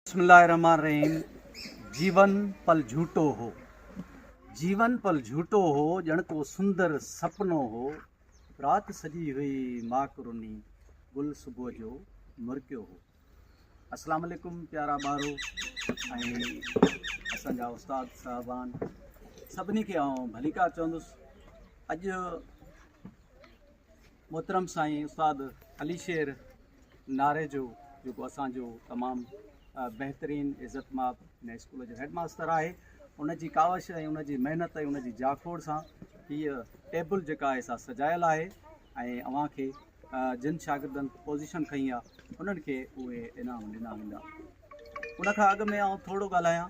بسم الله الرحمٰن الرحيم جيون پل جھوٽو هو جيون پل جھوٽو هو ڄڻ ڪو سندر سپنو هو رات سڄي هئي ماڪ رني گل صبح جو مرڪيو هو السلام عليڪم پيارا ٻارو اسان جا استاد صاحبان سڀني کي آئون ڀليڪار چوندس اڄ محترم سائين استاد علي شير ناريجو جيڪو اسان جو تمام بهترين عزت ماب هن اسڪول جو هيڊ ماستر آهي ان جي ڪاوش ۽ ان جي محنت ۽ ان جي جاکوڙ سان هيء ٽيبل جيڪا آهي سا سجايل آهي ۽ اوهان کي جن شاگردن پوزيشن کئي آهي انهن کي اهي انعام ڏنا ويندا ان کان اڳ ۾ آئون ٿورو ڳالهايان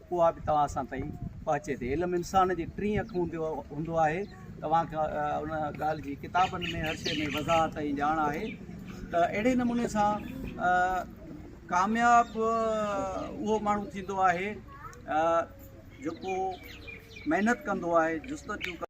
اها به توهان سان تائين پهچي ٿي. علم انسان جي ٽين اک هوندو آهي. توهان کي ان ڳالهه جي ڪتابن ۾ هر شيء ۾ وضاحت ۽ ڄاڻ آهي ته اهڙي نموني سان ڪامياب اهو ماڻهو ٿيندو آهي جيڪو محنت ڪندو آهي جستجو ڪندو آهي.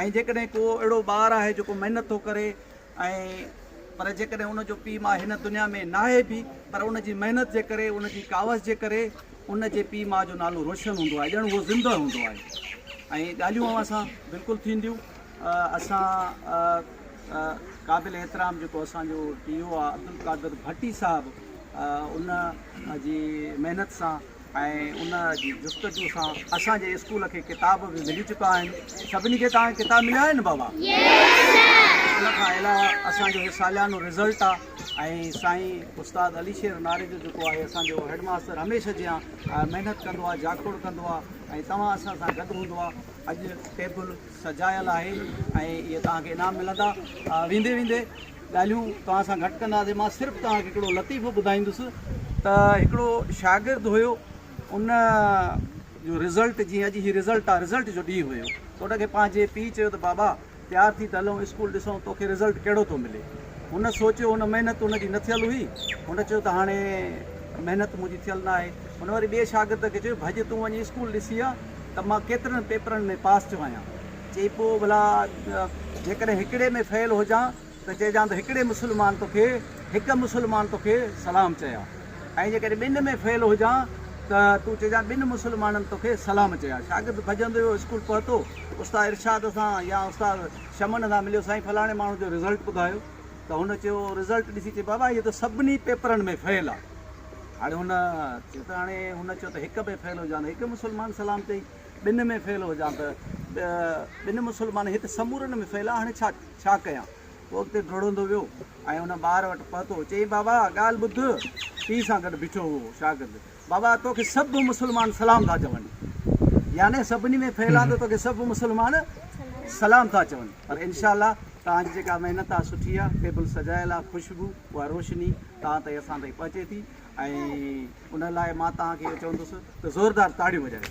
۽ جيڪڏهن ڪو اهڙو ٻار آهي جيڪو محنت ٿو ڪري ۽ پر جيڪڏهن ان جو پيء ماء هن دنيا ۾ ناهي به پر ان جي محنت جي ڪري ان جي ڪاوش جي ڪري ان جي پيء ماء جو نالو روشن هوندو آهي ڄڻ اهو زندهه هوندو آهي ۽ ڳالهيون اوهان سان بلڪل ٿينديون اسان قابل احترام جيڪو اسان جو ٽي او آهي عبدالقادر ڀٽي صاحب ان جي محنت سان ۽ ان جي جستجو سان اسان جي اسڪول کي ڪتاب به ملي چڪا آهن سڀني کي توهان کي ڪتاب مليا آهن بابا ان کان علاوه اسان جو هي ساليانو رزلٽ آهي ۽ سائين استاد علي شير ناري جو جيڪو آهي اسان جو هيڊ ماستر هميشه جيان محنت ڪندو آهي جاکوڙ ڪندو آهي ۽ توهان اسان سان گڏ هوندو آهي اڄ ٽيبل سجايل آهي ۽ اهي توهان کي انعام ملندا ويندي ويندي ڳالهيون توهان سان گهٽ ڪنداسين مان صرف توهان کي هڪڙو لطيفو ٻڌائيندس ته هڪڙو شاگرد هيو ان جو رزلٽ جي اڄ هي رزلٽ آ رزلٽ جو ڏينهن هيو ته ان کي پنهنجي پيء چيو ته بابا تيار ٿي ته هلون اسڪول ڏسون توکي رزلٽ ڪهڙو ٿو ملي هن سوچيو هن محنت ان جي نه ٿيل هئي هن چيو ته هاڻي محنت منهنجي ٿيل نه آهي هن وري ٻئي شاگرد کي چيو ڀڄ تون وڃي اسڪول ڏسي آ ته مان ڪيترن پيپرن ۾ پاس ٿيو آهيان چئي پوء ڀلا جيڪڏهن هڪڙي ۾ فيل هجان ته چئجان ته هڪڙي مسلمان توکي هڪ مسلمان توکي سلام چيا ۽ جيڪڏهن ٻن ۾ فيل هجان ته تون چئجان ٻن مسلمانن توکي سلام چيا. شاگرد ڀڄندو ويو اسڪول پهتو استاد ارشاد سان يا استاد شمن سان مليو سائين فلاڻي ماڻهو جو رزلٽ ٻڌايو ته هن چيو رزلٽ ڏسي چئي بابا هي ته سڀني پيپرن ۾ فيل آ هاڻي هن چيو ته هاڻي هن چيو ته هڪ ۾ فيل هجان ته هڪ مسلمان سلام چئي. ٻن ۾ فيل هجان ته ٻن مسلمان هت سمورن ۾ فيل آ هاڻي ڇا ڇا ڪيان هو اڳتي ڊوڙندو ويو ۽ ان ٻار وٽ پهتو چئي بابا ڳالهه ٻڌ پيء سان گڏ بيٺو هو شاگرد بابا توکي سڀ مسلمان سلام ٿا چون يعني سڀني ۾ فيل آ ته توکي سڀ مسلمان سلام ٿا چون پر انشاء الله توهان جي جيڪا محنت آ سٺي آ ٽيبل سجايل آ خوشبو اها روشني توهان تائين اسان تائين پهچي ٿي ۽ ان لاء مان توهان کي اهو چوندس ته زوردار تاڙيون وڄايو.